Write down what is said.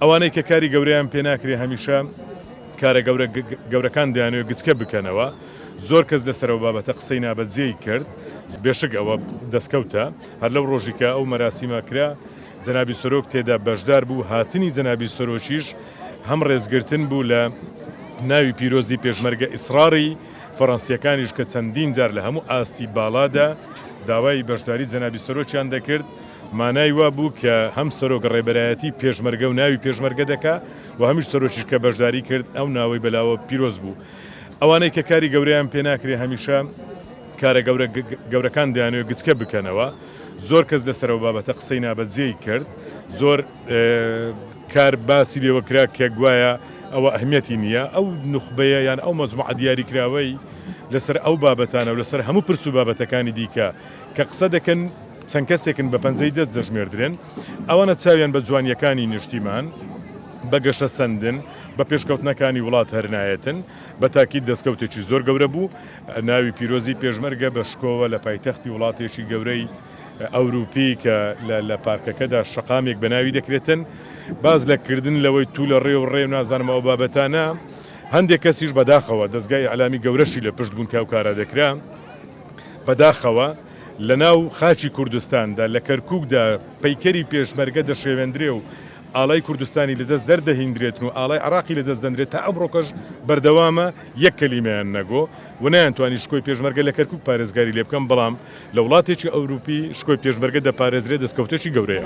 ئەوانەی کە کاری گەورەیان پێ ناکرێ هەمیشە کارە گەورە گەورەکان دەیانەوێ گچکە بکەنەوە، زۆر کەس لەسەر ئەو بابەتە قسەی نابەجێی کرد، بێشک ئەوە دەستکەوتە، هەر لەو ڕۆژی کە ئەو مەراسیمە کرا جەنابی سەرۆک تێدا بەشدار بوو، هاتنی جەنابی سەرۆکیش هەم ڕێزگرتن بوو لە ناوی پیرۆزی پێشمەرگە ئیسڕاڕی فەڕەنسییەکانیش کە چەندین جار لە هەموو ئاستی باڵادا داوای بەشداری جەنابی سەرۆکیان دەکرد، مانای وا بوو کە هەم سەرۆک ڕێبەرایەتی پێشمەرگە و ناوی پێشمەرگە دەکا و هەمیش سەرۆکیش کە بەشداری کرد ئەو ناوەی بە لاوە پیرۆز بوو. ئەوانەی کە کاری گەورەیان پێ ناکرێ هەمیشە کارە گەورە گەورەکان دەیانەوێ گچکە بکەنەوە. زۆر کەس لەسەر ئەو بابەتە قسەی نابەجێی کرد. زۆر کار باسی لێوە کرا کە گوایە ئەوە ئەهمیەتی نییە. ئەو نوخبەیە یان ئەو مەجموعە دیاری کراوەی لەسەر ئەو بابەتانە و لەسەر هەموو پرس و بابەتەکانی دیکە کە قسە دەکەن، چەند کەسێکن بە پەنجەی دەست دەژمێردرێن، ئەوانە چاویان بە جوانییەکانی نیشتیمان، بە گەشەسەندن، بە پێشکەوتنەکانی وڵات هەر نایەتن، بە تاکید دەستکەوتێکی زۆر گەورە بوو، ناوی پیرۆزی پێشمەرگە بە شکۆوە لە پایتەختی وڵاتێکی گەورەی ئەوروپی کە لە پارکەکەدا شەقامێک بە ناوی دەکرێتن باس لە کردن لەوەی تو لە ڕێ و ڕێ و نازانم ئەو بابەتانە هەندێک کەسیش بەداخەوە دەزگای ئیعلامی گەورەشی لە پشت بوون کە ئەو کارە دەکرا بەداخەوە. لە ناو خاکی کوردستاندا، لە کەرکووکدا پەیکەری پێشمەرگە دەشێوێندرێ و ئاڵای کوردستانی لە دەست دەردەهیندرێتن و ئاڵای عێڕاقی لە دەست دەندرێ تا ئەمڕۆکەش بەردەوامە، یەک کەلیمەیان نەگۆ و نەیانتوانی شکۆی پێشمەرگە لە کەرکووک پارێزگاری لێ بکەن، بەڵام لە وڵاتێکی ئەورووپی شکۆی پێشمەرگە دەپارێزرێ دەستکەوتێکی گەورەیە.